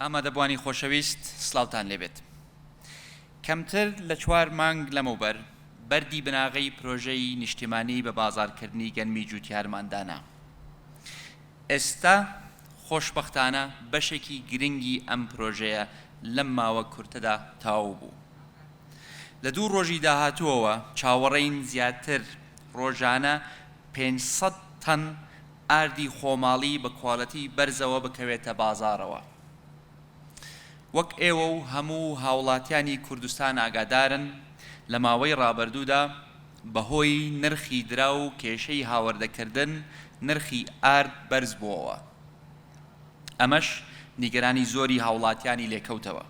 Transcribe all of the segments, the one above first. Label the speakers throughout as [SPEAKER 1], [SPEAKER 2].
[SPEAKER 1] ئامادەبووانی خۆشەویست سڵاوتان لێ بێت. کەمتر لە چوار مانگ لەمەوبەر بەردی بناغەی پرۆژەی نیشتیمانی بە بازاڕکردنی گەنمی جووتیارمان دانا. ئێستا خۆشبەختانە بەشێکی گرنگی ئەم پرۆژەیە لەم ماوە کورتەدا تەواو بوو. لە دوو ڕۆژی داهاتووەوە چاوەڕێین زیاتر ڕۆژانە پێنج سەد تەن ئاردی خۆماڵی بە کوالێتی بەرزەوە بکەوێتە بازاڕەوە. وەک ئێوە و هەموو هاوڵاتیانی کوردستان ئاگادارن لە ماوەی ڕابردوو دا بە هۆی نرخی دراو و کێشەی هاوردە کردن نرخی ئارد بەرز بۆوە ئەمەش نیگەرانی زۆری هاوڵاتیانی لێکەوتەوە.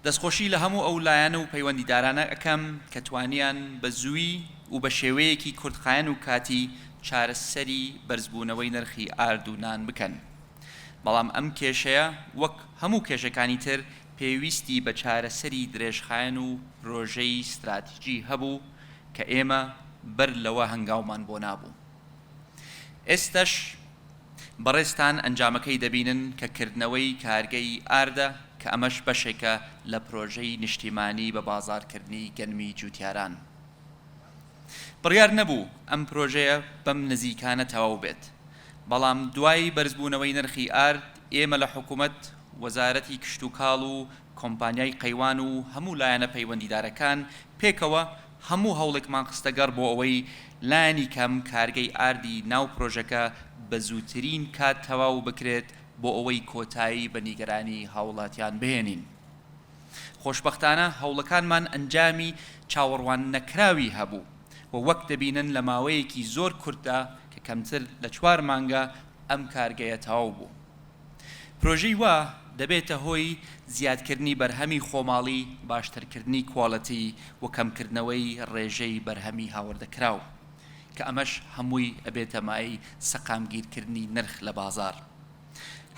[SPEAKER 1] دەستخۆشی لە هەموو ئەو لایەن و پەیوەندیدارانە ئەکەم کە توانیان بە زووی و بە شێوەیەکی کورتخایەن و کاتی چارەسەری بەرزبوونەوەی نرخی ئارد و نان بکەن بەڵام ئەم کێشەیە وەک هەموو کێشەکانی تر پێویستی بە چارەسەری درێژخایەن و پرۆژەی ستراتیجی هەبوو کە ئێمە بەر لەوە هەنگاومان بۆ نابوو ئێستەش بەڕێزتان ئەنجامەکەی دەبینن کە کردنەوەی کارگەی ئاردە کە ئەمەش بەشێکە لە پرۆژەی نیشتیمانی بە بازاڕکردنی گەنمی جوتیاران بڕیار نەبوو ئەم پرۆژەیە بەم نزیکانە تەواو بێت بەڵام دوای بەرزبوونەوەی نرخی ئارد ئێمە لە حکومەت وەزارەتی کشتوکاڵ و کۆمپانیای قەیوان و هەموو لایەنە پەیوەندیدارەکان پێکەوە هەموو هەوڵێکمان خستەگەڕ بۆ ئەوەی لانی کەم کارگەی ئاردی ناو پرۆژەکە بە زووترین کات تەواو بکرێت بۆ ئەوەی کۆتایی بە نیگەرانی هاوڵاتیان بهێنین. خۆشبەختانە هەوڵەکانمان ئەنجامی چاوەڕوان نەکراوی هەبوو و وەک دەبینن لە ماوەیەکی زۆر کورتدا کە کەمتر لە چوار مانگە ئەم کارگەیە تەواو بوو. پرۆژەی وا دەبێتە هۆی زیادکردنی بەرهەمی خۆماڵی، باشترکردنی کوالێتی و کەمکردنەوەی ڕێژەی بەرهەمی هاوردەکراو، کە ئەمەش هەمووی ئەبێتە مایەی سەقامگیرکردنی نرخ لە بازاڕ.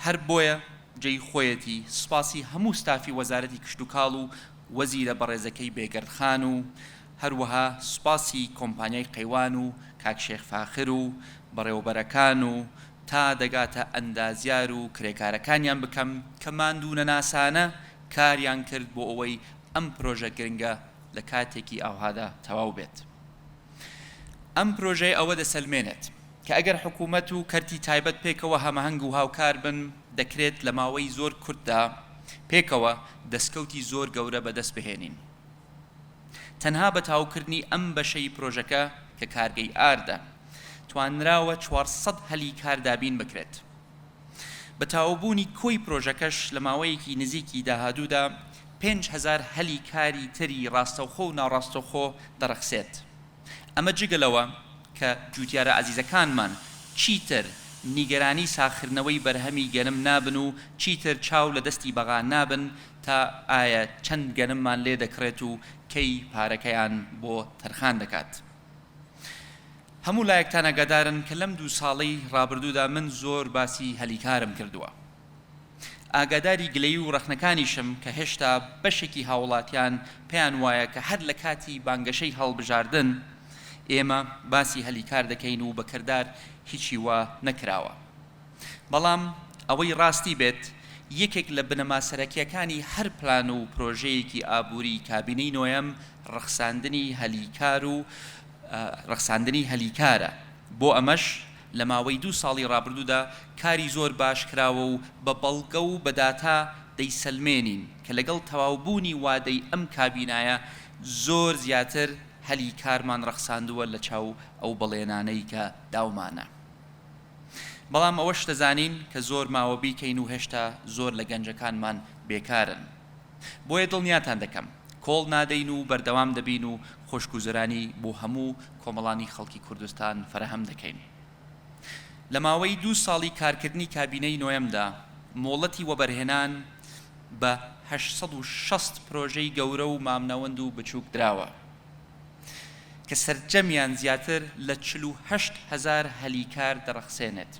[SPEAKER 1] هەر بۆیە جێی خۆیەتی سوپاسی هەموو ستافی وەزارەتی کشتوکاڵ و وەزیرە بەڕێزەکەی بێگەرد خان و هەروەها سوپاسی کۆمپانیای قەیوان و کاک شێخ فاخر و بەڕێوەبەرەکان و تا دەگاتە ئەندازیار و کرێکارەکانیان بکەم کە ماندوونەناسانە کاریان کرد بۆ ئەوەی ئەم پرۆژە گرنگە لە کاتێکی ئاوهادا تەواو بێت. ئەم پرۆژەیە ئەوە دەسەلمێنێت کە ئەگەر حکوومەت و کەرتی تایبەت پێکەوە هەمەهەنگ و هاوکار بن دەکرێت لە ماوەی زۆر کورتدا پێکەوە دەستکەوتی زۆر گەورە بەدەست بهێنین. تەنها بە تاوکردنی ئەم بەشەی پرۆژەکە کە کارگەی ئاردە، توانراوە چوار سەد هەلی کار دابین بکرێت. بە تاوبوونی کۆی پرۆژەکەش لە ماوەیەکی نزیکی داهادوودا پێنج هەزار هەلی کاری تری راستەوخۆ و ناڕاستەوخۆ دەڕەخسێت. ئەمە جگە لەوە کە جووتیارە ئازیزەکانمان چیتر نیگەرانی ساغکردنەوەی بەرهەمی گەنم نابن و چیتر چاو لە دەستی بەغا نابن تا ئایا چەند گەنممان لێ دەکڕێت و کەی پارەکەیان بۆ تەرخان دەکات. هەموو لایەکتان ئاگادارن کە لەم دوو ساڵەی ڕابردوودا من زۆر باسی هەلی کارم کردووە. ئاگاداری گلەیی و ڕەخنەکانیشم کە هێشتا بەشێکی هاوڵاتیان پێیان وایە کە هەر لە کاتی بانگەشەی هەڵبژاردن ئێمە باسی هەلی کار دەکەین و بە کردار هیچی وا نەکراوە بەڵام ئەوەی ڕاستی بێت یەکێک لە بنەما سەرەکیەکانی هەر پلان و پرۆژەیەکی ئابووری کابینەی نۆیەم ڕەخساندنی هەلی کار و ڕەخساندنی هەلی کارە بۆ ئەمەش لە ماوەی دوو ساڵی ڕابردوودا کاری زۆر باش کراوە و بە بەڵگە و بە داتا دەیسەلمێنین کە لەگەڵ تەواوبوونی وادەی ئەم کابینایە زۆر زیاتر هەلی کارمان ڕەخساندووە لە چاو ئەو بەڵێنانەی کە داومانە بەڵام ئەوەش دەزانین کە زۆر ماوە بیکەین و هێشتا زۆر لە گەنجەکانمان بێکارن. بۆیە دڵنیاتان دەکەم کۆڵ نادەین و بەردەوام دەبین و خۆشگوزەرانی بۆ هەموو کۆمەڵانی خەڵکی کوردستان فەراهەم دەکەین. لە ماوەی دوو ساڵی کارکردنی کابینەی نۆیەمدا مۆڵەتی وەبەرهێنان بە هەشت سەد و شەست پرۆژەی گەورە و مامناوەند و بچووک دراوە کە سەرجەمیان زیاتر لە چل و هەشت هەزار هەلی کار دەڕەخسێنێت.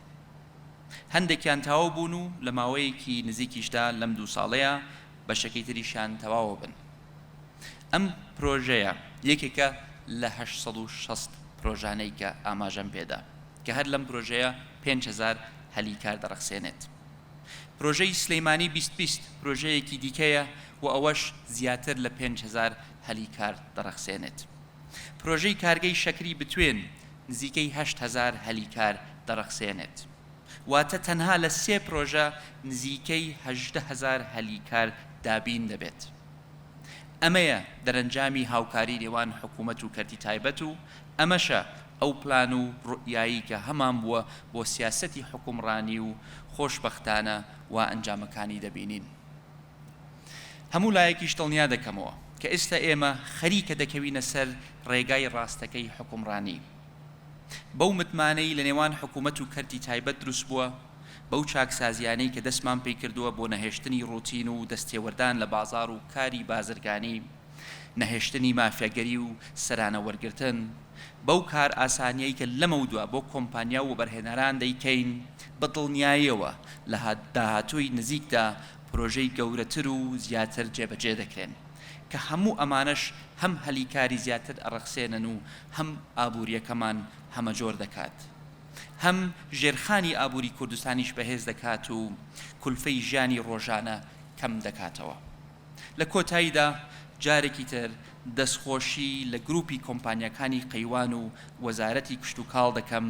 [SPEAKER 1] هەندێکیان تەواو بوون و لە ماوەیەکی نزیکیشدا لەم دوو ساڵەیا بەشەکەی تریشیان تەواوەبن. ئەم پرۆژەیە یەکێکە لە هەشت سەد و شەست پرۆژانەی کە ئاماژەم پێدا کە هەر لەم پرۆژەیە پێنج هەزار هەلی کار دەڕەخسێنێت. پرۆژەی سلیمانی بیست بیست پرۆژەیەکی دیکەیە و ئەوەش زیاتر لە پێنج هەزار هەلی کار دەڕەخسێنێت. پرۆژەی کارگەی شەکری بتوێن نزیکەی هەشت هەزار هەلی کار دەڕەخسێنێت، واتە تەنها لە سێ پرۆژە نزیکەی هەژدە هەزار هەلی کار دابین دەبێت. ئەمەیە دەرەنجامی هاوکاری نێوان حکومەت و کەرتی تایبەت و ئەمەشە ئەو پلان و روئیایەی کە هەمان بووە بۆ سیاسەتی حوکمڕانی و خۆشبەختانە وا ئەنجامەکانی دەبینین. هەموو لایەکیش دڵنیا دەکەمەوە کە ئێستا ئێمە خەریکە دەکەوینە سەر ڕێگای ڕاستەکەی حوکمڕانی بەو متمانەی لە نێوان حکوومەت و کەرتی تایبەت دروست بووە بەو چاکسازییانەی کە دەستمان پێی کردووە بۆ نەهێشتنی ڕووتین و دەستێوەردان لە بازاڕ و کاری بازرگانی نەهێشتنی مافیاگەری و سەرانە وەرگرتن بەو کارئاسانییەی کە لەمەودوا بۆ کۆمپانیا و وەبەرهێنەران دەیکەین بە دڵنیاییەوە لە داهاتووی نزیکدا پرۆژەی گەورەتر و زیاتر جێبەجێ دەکرێن، کە هەموو ئەمانەش هەم هەلی کاری زیاتر ئەڕەخسێنن و هەم ئابوورییەکەمان هەمەجۆر دەکات، هەم ژێرخانی ئابووری کوردستانیش بەهێز دەکات و کولفەی ژیانی ڕۆژانە کەم دەکاتەوە. لە کۆتاییدا جارێکی تر دەستخۆشی لە گرووپی کۆمپانیاکانی قەیوان و وەزارەتی کشتوکاڵ دەکەم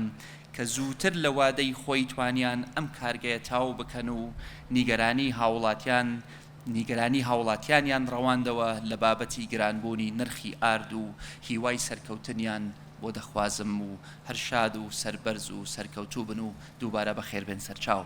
[SPEAKER 1] کە زووتر لە وادەی خۆی توانیان ئەم کارگەیە تاو بکەن و نیگەرانی هاوڵاتیان نیگەرانی هاوڵاتیانیان ڕەواندەوە لە بابەتی گران بوونی نرخی ئارد و هیوای سەرکەوتنیان بۆ دەخوازم و هەر شاد و سەربەرز و سەرکەوتوو بن و دووبارە بەخێربێن سەرچاو.